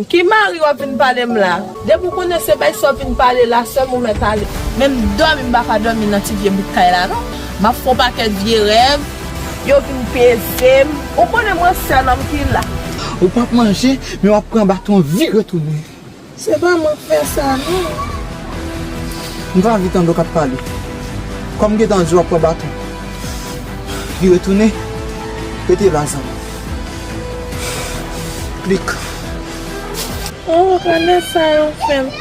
Ki mari wap vin palem la. Depi ou konnen se bay sa wap vin pale la sèm ou mèt ale. Menm domi m paka domi nan ti vye bout kay la non map fon paket vye rèv. Yo vin pezem. Ou konnen mwen sèl anpil la. Ou pap manje men wap pran baton vi retounen. Se pa mwen k fè sa non. M pa anvi tande w kap pale. Kòm m gentan di w ap pran baton. Vire tounen. Rete la zanmi. Klik. Oh renmen sa yo fèm.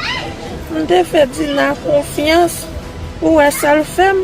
M te fè Dina konfyans ou wè sal fèm.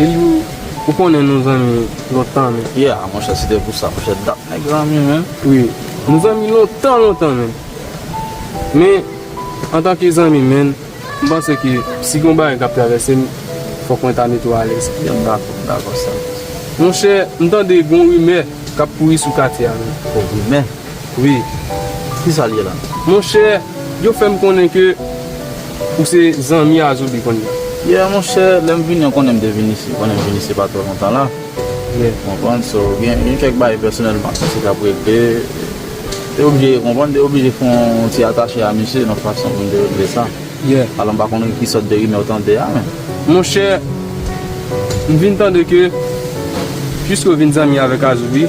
Eliu ou konnen nou zanmi lontan men. Yeah monchè si te pou sa monchè dat nèg zanmi menn. Wi nou zanmi lontan lontan menn. Men antanke zanmi menn m panse ke si gon bagay kap travèse m fòk mwen ta mete w alèz. Yeah m dakò m dakò sa. Monchè m tande gon rimè kap kouri sou katye a menn. Oh rimè? Wi, kisa l ye la? Monchè, yo fè m konnen ke ou se zanmi a Zoubi kounya. Yeah monchè, lè m vini an konnen m te vini isit, konnen m vini isit pa twò lontan la. Yeah. Ou konprann, so gen gen kèk bagay pèsonèlman mwen te dap regle, te oblije, ou konprann, te oblije fè yon ti atache a misye yon fason pou m te regle sa. Yeah. Alò m pa konnen ki sòt de rimè ou tande a men. Monchè, m vin tande ke, piske ou vin zanmi avèk a Zoubi,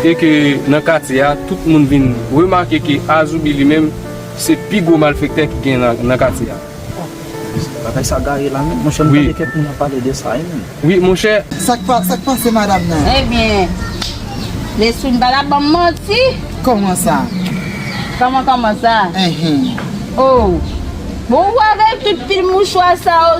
e ke nan katye a tout moun vin remake ke Azoubi li menm se pi gwo malfektè ki gen nan katye a. Bagay sa gaye la menm monchè m tande kèk moun ap pale de sa wi menm. Wi monchè. Sak pa sak pase madam nan. Ebyen Neswin pa tap banm manti. Kòman sa? Kòman kòman sa? Enhen. Ohh bon ou avèk tout pil mouchwa sa yo.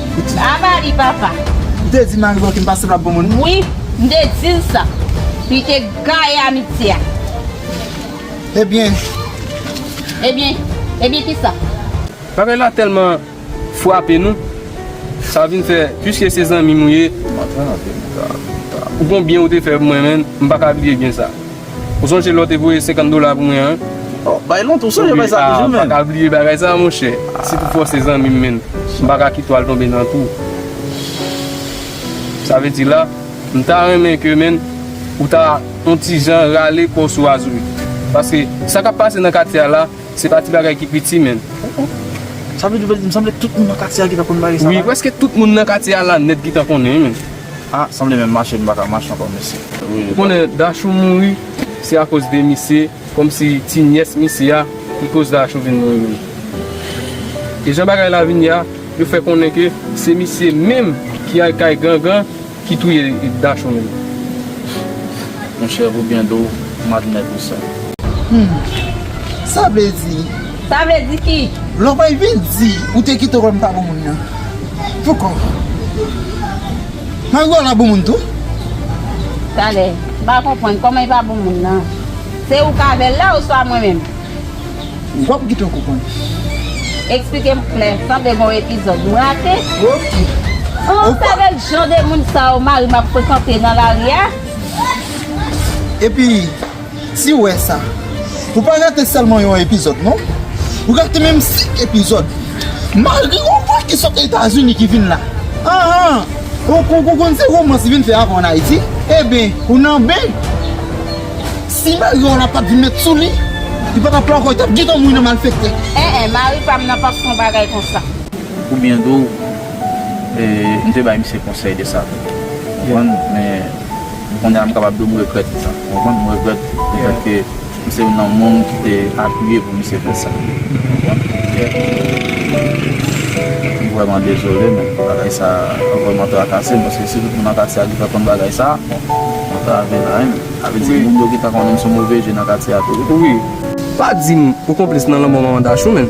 Aba li papa. M te di mari Baky m pa sanble ak bon moun. Wi, m te di l sa. Li te gaye amitye a. Ebyen. Ebyen, ebyen kisa? Bagay la tèlman frape nou, sa vin fè, piske se zanmi m ou ye, ou gon byen ou te fè pou mwen menn, m pa ka bliye byen sa. Ou sonje lè w te voye 50 dola pou mwen an? Oh, bay lontan, ou sonje bay sa toujou menn? Ah, pa ka bliye bagay sa monchè. Si pou fòs se zanmi m menn, m pa ka kite w al tonbe nan twou. Sa vle di la, m ta renmen ke menn ou ta yon ti jan rale kò w sou Azourit. Paske sa k ap pase nan katye a la, se pa ti bagay ki piti menn. Oh, oh. Sa vle di, m sanble tout moun nan katye a ki ta konn bagay sa la? Wi, prèske tout moun nan katye a la nèt ki ta konnen menn. Ah sanble menm mache m paka mache ankò mesye. Ou konnen Dachou mouri se akoz de misye kòmsi ti nyès misye a ki koz Dachou vin mouri menm e jan bagay la vin ye a yo fè konnen ke se misye menm ki al kay gangan ki touye Dachou menm. Monchè ou byen do madnè pou sa. Humm sa vle di Sa vle di ki? Lòbèy vin di, ou te kite wè m pa bon moun nan. Poukò? Mari w ala bon moun tou? Talè, m pa konprann, kòman li pa bon moun nan? Se ou k avè l la oswa mwen menm? W ap kite w konprann. Eksplike m klè, sanble gon epizòd m rate. Ok. Ou k avè l jan de moun sa yo mari m ap frekante nan lari a? Epi. Siw wè sa Ou pa rate sèlman yon epizòd non Ou rate menm 5 epizòd Malgre yon vwa ki sot etazini ki vin la Aah Ou konn se romans li vin fè avè w an ayiti Eben ou nan ben Si mari w la pat vin met sou li Li pa tap la ankò li tap gentan mouri nan malfekte Eh eh mari pam nan pap fon bagay konsa. Oubyen tou, m te bay misye konsèy de sa. Ou konprann? Men. Kounye a m kapab di w m regrèt pou sa. Ou konprann? M regrèt le fèt ke m se youn nan moun ki te apiye pou misye fè sa. M vrèman dezole men bagay sa a vrèman trakase m paske si tout moun Antacia ki fè konn bagay sa a, mwen ta vle la ren. Sa vle di moun yo ki ta konnen m sou move je nan katye a tou wi. Pa di m ou konplis nan lanmò manman Dachou men.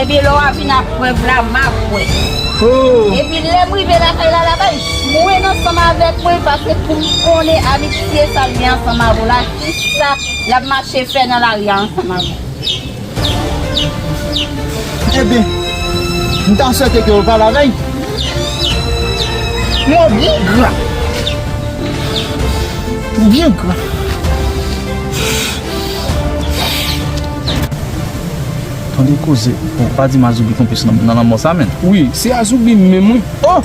Ebyen lè wap vin ak prèv la ma kwè. Epi lèm rive lakay Lalaba l jwenn ansanm avèk mwen pase poum konnen amitye sal gen ansanm avè w la kisa lap mache fè nan lari a ansanm avè w. Ebyen m ta swete ke w pa lavèy men w byen gra w byen gra. Tande koze bon pa di mazoubi konplis nan lanmò sa menn. Wi se azoubi menm wi oh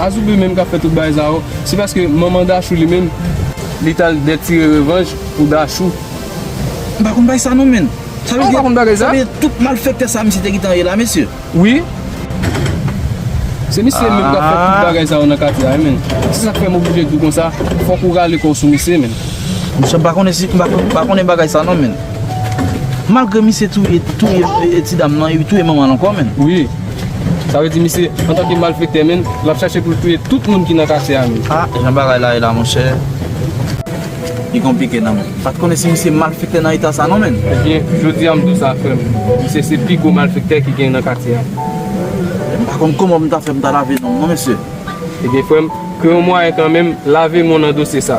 azoubi menm kap fè tout bagay sa yo se paske manman dachou li menm li tal dè tire revanj pou dachou. M pa konn bagay sa non menn. Sa vle di sa vle di tout malfèktè sa misye te gentan ye la mesye. Wi Se misye menm kap fè tout bagay sa yo nan katye a menn se sak fèm oblije diw konsa fòk ou rale kòw sou misye menn. Mesye m pa konnen si m pa konnen bagay sa non menn. Malgre misye touye touye ti dam nan e li touye manman l ankò menn. Wi. Sa vle di misye antanke malfektè menn l ap chache pou l touye tout moun ki nan katye a menn. Ah jan bagay la ye la monchè. Li konplike nan menm. M pat konnen si misye malfektè nan eta sa non menn. Ebyen jodi a m di w sa frè m. Misye se pi gwo malfektè ki genyen nan katye a. M pa konn kòman pou m ta fè pou m ta lave non m non mesye. Ebyen frè m, kreye yon mwayen kanmenm lave non nan dosye sa.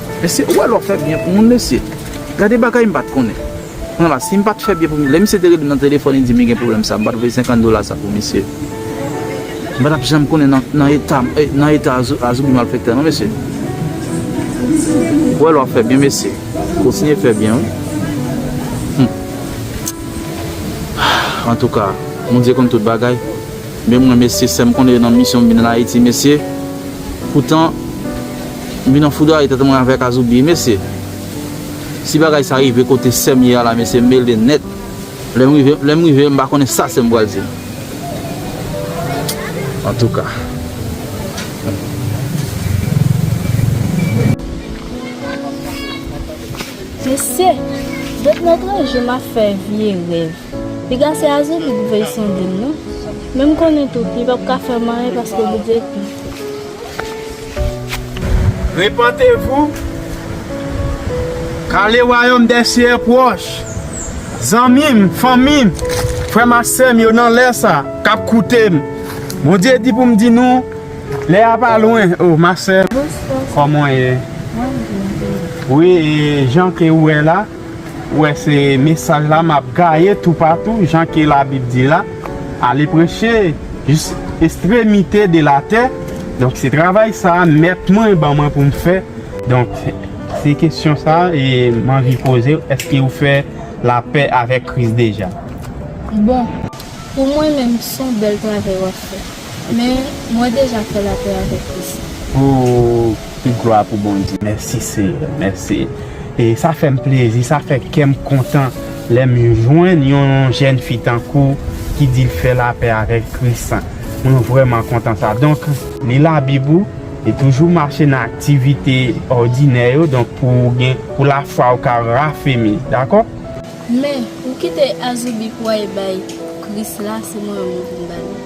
Mesye ou wè lè w fè byen pou moun mesye Gade bagay m pat konnen Pran la si m pat fè byen pou misye Lè misye te rele m nan telefòn li di m li gen pwoblèm sa a m pat voye 50 dola sa pou misye M pa tap janm konnen nan eta m nan eta a zoubi malfektè non mesye Ou wè lè w ap fè byen mesye Kontinye fè byen wi Humm Antouka Bondye konn tout bagay. Men mwen mesye sèm konnen yo nan misyon vin an ayiti mesye poutan m vin anfoudwaye tèt mwen avèk azoubi mesye si bagay sa rive kote sèm ye a la mesye m mele nèt lèm rive lèm rive m pa konnen sa sèm pral di antouka. Mesye! Depi nan tranche map fè vye rèv. Piga se aze pi pou veye sandin non men m konnen tou pi pap ka fèm anyen paske li vye pi. Repantez-vous, car le royaume des cieux est proche Zanmi m, fanmi m, frè m ak sè m yo nan lè sa, k ap koute m, Bondye di pou m di nou, lè a pa lwen Oh ma sè, kòman w ye? Mwen byen, e ou? Wi, e jan ke ou wè la. Ou wè se mesaj la map gaye tou patou jan ke la bib di la ale preche jis estremite de la tè donk se travay sa mèt mwen ban mwen poum fè donk se kesyon sa m anvi pozew eske ou fè la pè avèk kris deja. Bon Pou mwen menm son bèl travay wap fè. Men mwen deja fè lapè avèk Kris la. Ooh tout glwa pou Bondye. Mèsi seyè mèsi e sa fèm plezi sa fè kèm kontan lèm jwenn yon jèn fi tankouw ki dil fè lapè avèk kris sa mwen vrèman kontan sa donk li labib ou e toujou mache nan aktivite òdinè yo donk pouw gen pou lafwaw ka rafemi dakò. Men ou kite azoubi pou ay bay kris la se mwen menm poum bali.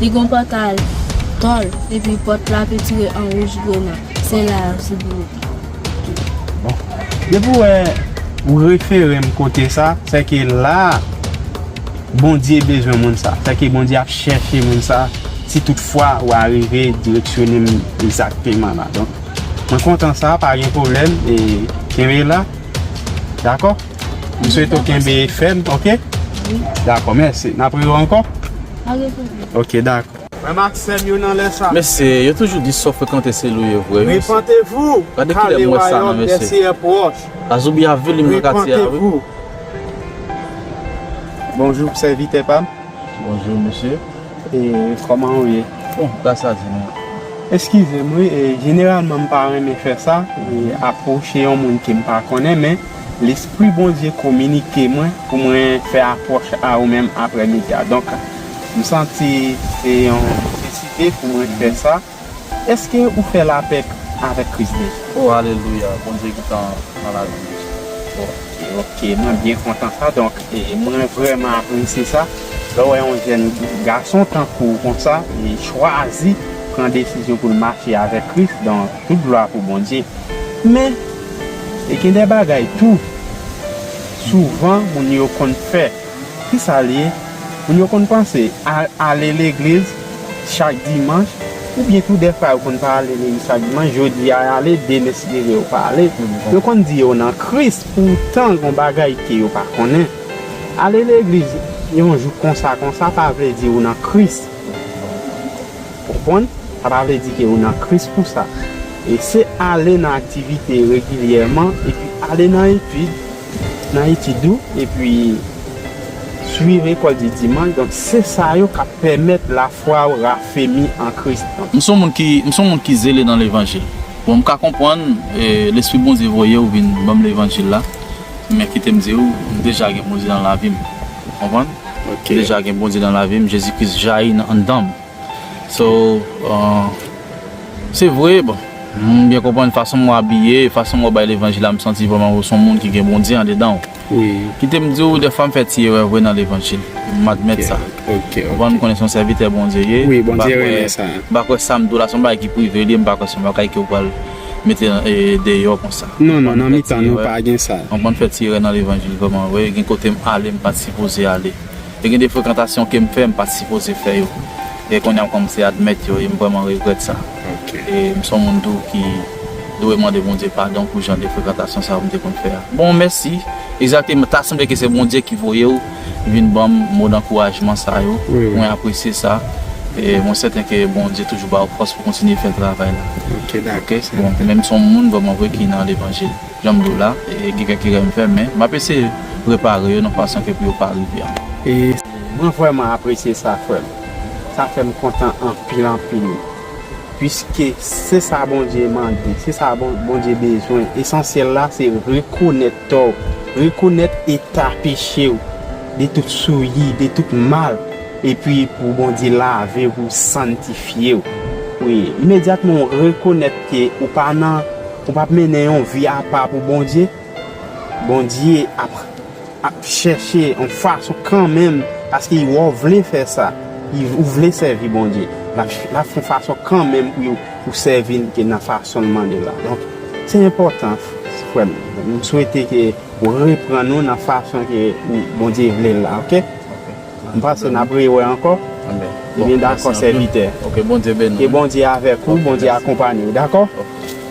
Li gon pòtay tòl epi pòt la pentire an wouj grena se la yap sibi ou. Bon depi wè ou referem kote sa sèke la bondye bezwen moun sa sèke bondye ap chèche moun sa si tout fwa ou arive direksyonem egzakteman la donk mwen kontan sa pa gen pwoblèm kenbe la dakò. M swete w kenbe fèm ok. Dakò mèsi. N ap re yo ankò? Ok dakò. Frè m ak sè m yo nan lè sa. Mesye, yo toujou di so frekante se lou ye vre wi mesye. Repantez-vous, Gade ki lè m wè sa nan mesye. Gade ki lè m wè sa nan mesye. Le Seyè proche. Azoubi a vilim nan katye a wi. Repantez-vous. Bonjour sèvitè pa m. Bonjour mesye. E kòman ou ye? Bon, gras a Dye mwen. Eskize m wi, jeneralman m pa renmen fè sa, apwoche yon moun ke m pa konnen men. Lespri Bondye kominike mwen pou mwen fè apwòch a ou menm aprè midi a. Donk, m santi se yon nesesite pou mwen fè sa. Èske ou fè lapè avèk Kris deja? O, alelouya! Bondye gentan nan lavi m deja. Oke, oke. Mwen byen kontan sa. Donk, mwen vrèman apresye sa lè w wè yon jèn gason tankou w konsa e chwazi pran desizyon pou l mache avèk Kris. Donk, tout glwa pou Bondye. Men. E gen de bagay tou souvan moun yo konn fè. Ki sa l ye? Moun yo konn panse ale legliz chak dimanch oubyen tou dèfwa yo konn pa ale legliz chak dimanch, jodi a y ale, demen si Dye vle yo pa ale. Yo konn di yo nan Kris poutan gon bagay ke yo pa konnen. Ale legliz yon jou konsa konsa pa vle di ou nan Kris. Ou konprann? Sa pa vle di ke ou nan Kris pou sa. E se ale nan aktivite regilyèman epi ale nan etid, nan etid ou, epi swiv Lekòl di Dimanch, donk se sa yo k ap pèmèt lafwa ou rafemi an Kris. Donk. M s on moun ki, m s on moun ki zele nan levanjil. Bon, m ka konprann Lespri Bondye voye ou vin ban m levanjil la, men kite m di ou, m deja gen Bondye nan lavi m. Konprann? M deja gen Bondye nan lavi m, Jezi Kris jayi nan anndan m. So Se vre bon M byen konprann fason mwen abiye e fason mwen bay levanjil la m santi vrèman ou son moun ki gen Bondye andedan w Kite m di w dèfwa m fè ti erè vre nan levanjil M admèt sa Ou konprann m konnen se yon sèvitè Bondye ye M pa kwè m pa kwè sa m di w la se yon bagay ki prive li ye m pa kwè se yon bagay ke ou pral mete deyò konsa Non non nan mitan nou pa gen sa M konprann m fè ti erè nan levanjil vrèman vre gen kote m ale m pat sipoze ale. Te gen de frekantasyon ke m fè m pat sipoze fè yo e kounye a m kòmanse admèt yo e m vrèman regrèt sa. E m son moun tou ki dwe mande Bondye padon pou jan de frekantasyon sa yo m te konn fè a. Bon mèsi, egzakteman ta sanble ke se Bondye ki voye w vin banm mo dankourajman sa yo, mwen apresye sa e mwen sèten ke Bondye toujou ba w fòs pou kontinye fè travay la. Ok, dakò. Bon, men m son moun vrèman vre ki nan levanjil. Janm diw la, gen kèk erè m fè men map eseye repare yo nan fason ke pou yo pa rive ankò. Mwen vrèman apresye sa frèm, sa fèm kontan anpil anpil puiske se sa Bondye mande, se sa Bondye bezwen, esansyèl la se rekonèt tòw, rekonèt eta pechew, de tout souyi, de tout mal, epi pou Bondye lavew pou santifyew, wi imedyatman ou rekonèt ke ou pa nan. Ou pap mennen yon vi apa pou Bondye, Bondye ap ap chèche yon fason kanmenm paske li wè w vle fè sa, ou vle sèvi Bondye, lap lap fè yon fason kanmenm pou ou sèvi l ke nan fason l mande la. Donk, se enpòtan frè m, m swete ke ou reprann ou nan fason ke Bondye vle l la ok. M panse nap re wè ankò Ebyen dakò sèvitè Ke Bondye avèk ou Bondye akonpanyew dakò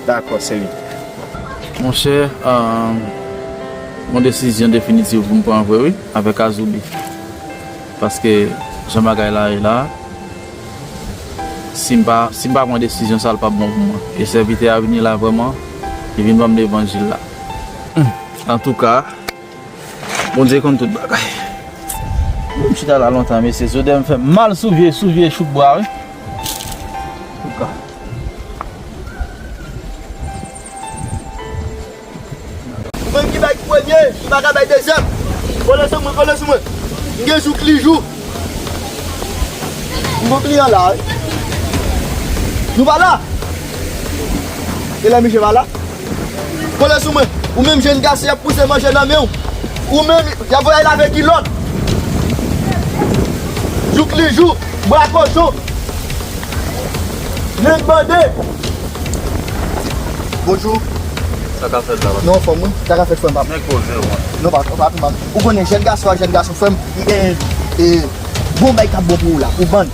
Dakò sèvitè. Monchè Gon desizyon definitiv poum pran vre wi avèk Azoubi paske jan bagay la ye la sim pa sim pa pran desizyon sa lipap bon pou mwen e sèvitè a vini la vrèman li vin banm levanjil la antouka. Bondye konn tout bagay. Mwen m chita la lontan mesye zodè m fèm mal sou vye sou vye chouk bwa wi. Mwen ki bay premye m pa ka bay dezyèm. Kole sou mwen kole sou mwen. M gen jou kli jou. M gon kliyan la wi. Nou pa la? Elè misye pa la? Kole sou mwen! Ou menm jenn gason y ap pouse manje nan men w! Ou menm y ap voye lave kilòt! Jouklijou! Bra kochon! Nen bande! Bonjou! Sa ka fèt la baz? Non frè m wi! Sa ka fèt frè m baz? Men koze w an! Non baz, pa pi mal. Ou konnen jenn gason ak jenn gason frè m, m gen bon bagay k ap bon pou ou la pou bann!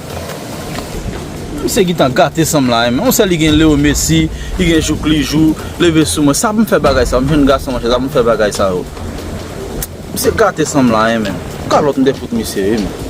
Misye gintan gate sanm la hein. On sè li gen Leo Messi, li gen jouk li jou, leve sou mwen. Sa pou m fè bagay sa yo? M jèn gason monchè, sa pou m fè bagay sa yo? Misye gate sanm la hein menm. Kalòt m te fout misye wi menm.